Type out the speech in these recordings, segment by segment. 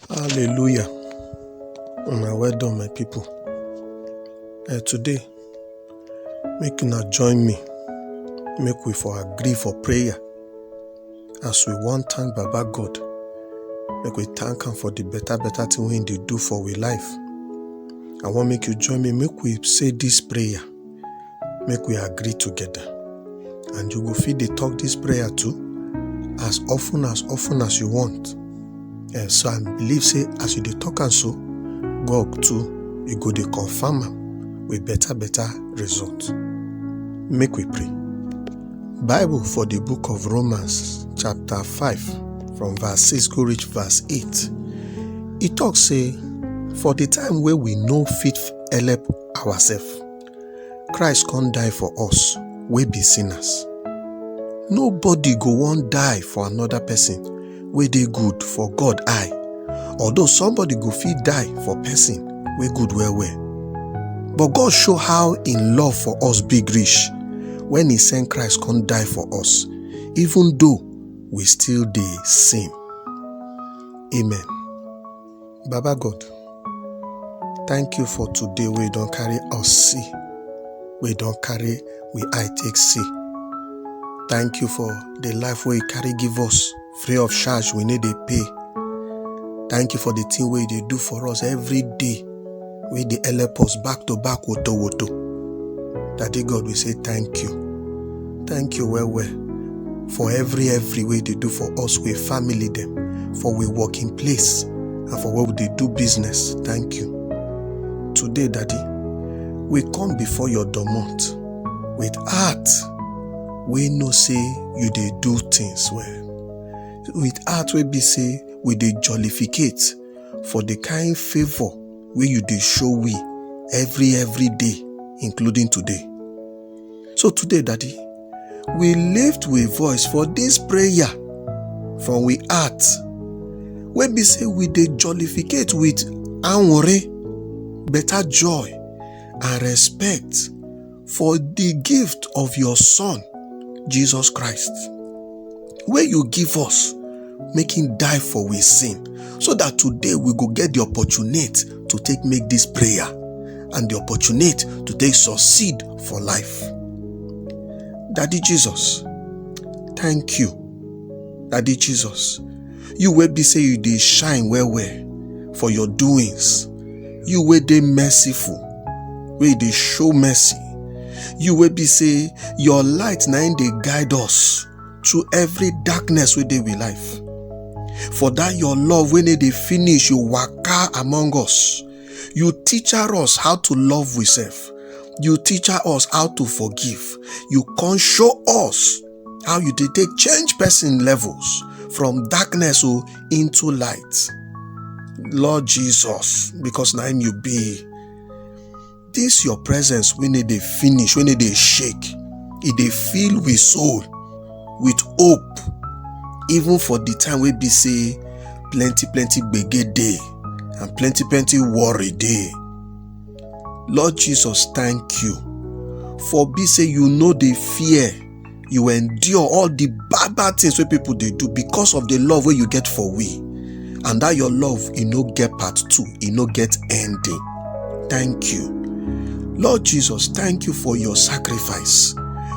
Hallelujah. Una well done, my people. Eh, today, make una join me. Make we for agree for prayer. As we wan thank Baba God, make we thank am for the better better thing wey he dey do for we life. I wan make you join me make we say this prayer. make we agree together and you go fit dey talk this prayer too as often as often as you want and so i believe say as you dey talk am so god too e go dey confirm am with better better result make we pray bible for the book of romans chapter 5 from verse 6 go reach verse 8 e talk say for the time wey we no fit help ourself christ come die for us wey be sinners nobody go wan die for another person wey dey good for god eye although somebody go fit die for person wey good well well but god show how im love for us big reach when he send christ come die for us even though we still dey sin amen Baba God, thank you for today wey you don carry us see, wey you don carry we eye take see. Thank you for the life wey you carry give us free of charge, we no dey pay. Thank you for the thing wey you dey do for us every day. wey dey help us back to back woto woto. Daddy God, we say thank you. Thank you well well for every every wey you dey do for us, we family dem, for we working place and for where we dey do business. Thank you. Today, Daddy, we come before your domot with heart wey know say you dey do things well. With heart wey be say we dey jollificate for the kind favor wey you dey show we every every day including today so today daddy we lift we voice for this prayer from we heart wey be say we dey jollificate with anwore better joy and respect for the gift of your son jesus christ wey you give us make him die for we sin so that today we go get the opportunity to take make this prayer and the opportunity to take succeed for life daddy jesus thank you daddy jesus you wey be say you dey shine well well for your doings you wey dey merciful wey dey show mercy you wey be say your light na im dey guide us to every darkness wey dey we life for that your love wey no dey finish you waka among us you teacher us how to love we self you teacher us how to forgive you come show us how you dey take change person levels from darkness o into light lord jesus because na him you be this your presence wey no dey finish wey no dey shake e dey fill we soul with hope even for the time wey be say plenty plenty gbege dey and plenty plenty worry dey Lord Jesus, thank you for be say you know the fear you endure all the bad bad things wey people dey do because of the love wey you get for we and that your love e no get part two e no get ending thank you lord jesus thank you for your sacrifice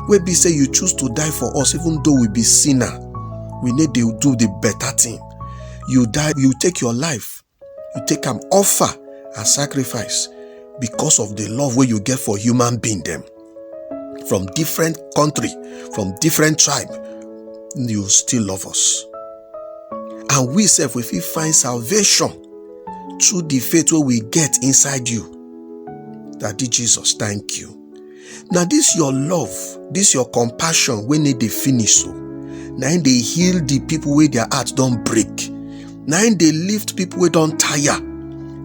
wey be say you choose to die for us even though we be sinner we need dey do the better thing you die you take your life you take am offer and sacrifice because of the love wey you get for human being dem from different country from different tribe you still love us and we sef we fit find salvation through the faith wey we get inside you daddy jesus thank you na dis your love dis your compassion wey no dey finish so na im dey heal di pipo wey dia heart don break na im dey lift pipo wey don tire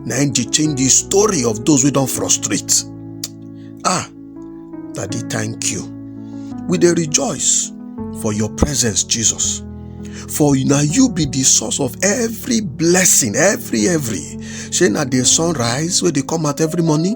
na im dey change di story of those wey don frustrate ah daddy thank you we dey rejoice for your presence jesus for na you be di source of every blessing every every shey na di sunrise wey dey come out every morning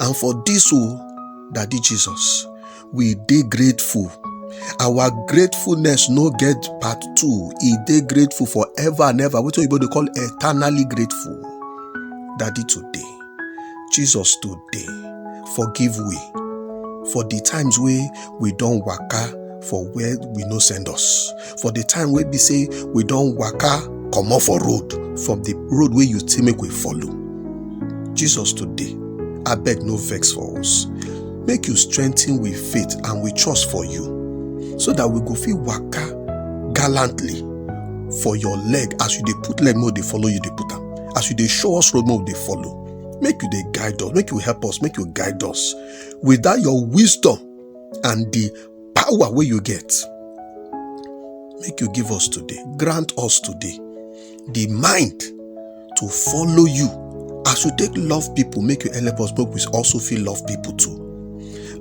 And for this, oh, Daddy Jesus, we dey grateful. Our gratefulness no get part two. E dey grateful forever and ever. Wetin oyibo dey call eternally grateful. Daddy today, Jesus today, forgive we for the times wey we don waka for where we no send us. for the time wey be say we don waka comot for road from the road wey you say make we follow jesus today abeg no vex for us make you strengthen we faith and we trust for you so that we go fit waka gallantly for your leg as you dey put leg make we dey follow you dey put am as you dey show us road make we dey follow make you dey guide us make you help us make you guide us with that your wisdom and the power wey you get make you give us today grant us today the mind to follow you as you take love people make you help us make we also feel love people too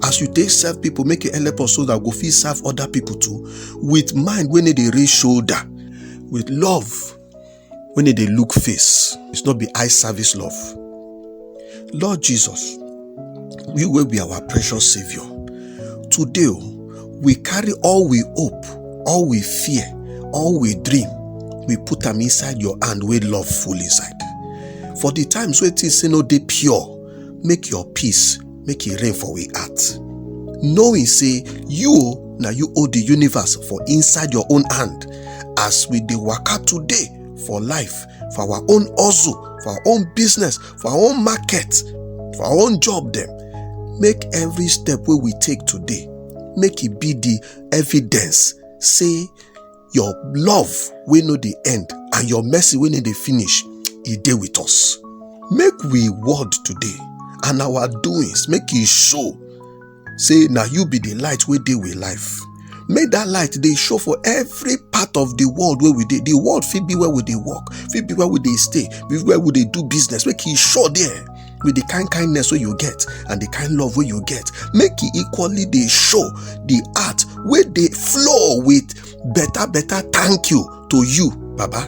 as you take serve people make you help us so that we go fit serve other people too with mind wey no dey raise shoulder with love when they dey look face it's not be eye service love lord jesus we will be our precious savior today oh, we carry all we hope all we fear all we dream we put them inside your hand with love full inside for the times where things say no they pure make your peace make e rain for we heart knowing say you na you hold the universe for inside your own hand as we dey waka today for life for our own hustle for our own business for our own market for our own job dem make every step wey we take today make e be the evidence say your love wey no dey end and your mercy wey no dey finish e dey with us make we word today and our doings make e show say na you be the light wey dey with life make that light dey show for every part of the world wey we dey the world fit be where we dey work fit be where we dey stay be where we dey do business make e show there with the kind kindness wey you get and the kind love wey you get make e equally dey show the heart wey dey flow with better better thank you to you baba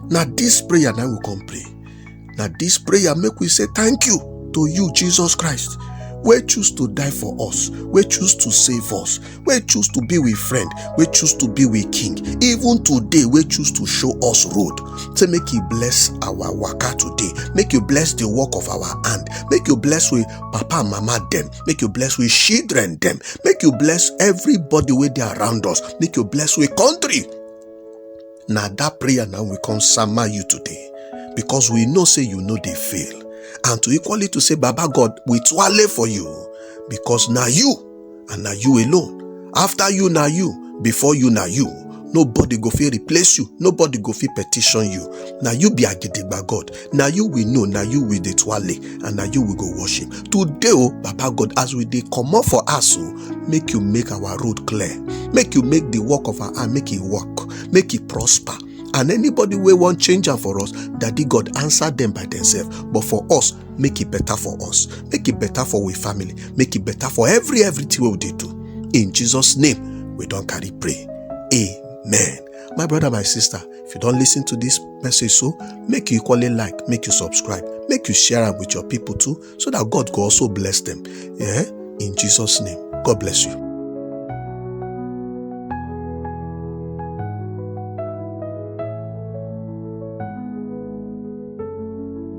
na this prayer na we come pray na this prayer make we say thank you to you jesus christ wey choose to die for us wey choose to save us wey choose to be we friend wey choose to be we king even today wey choose to show us road say make you bless our waka today make you bless the work of our hand make you bless we papa and mama dem make you bless we children dem make you bless everybody wey dey around us make you bless we country na that prayer na we come sama you today because we know say you no dey fail and to equally to say baba god we twale for you because na you and na you alone after you na you before you na you nobody go fit replace you nobody go fit petition you na you be agidigba god na you we know na you we dey twale and na you we go worship today o baba god as we dey comot for house o make you make our road clear make you make the work of our hand make e work make e prosper and anybody wey wan change am for us daddy god answer dem by themselves but for us make it better for us make it better for we family make it better for every everything we dey do in jesus name we don carry pray amen my brother my sister if you don listen to this message so make you equally like make you subscribe make you share am with your people too so that god go also bless them yeah in jesus name god bless you.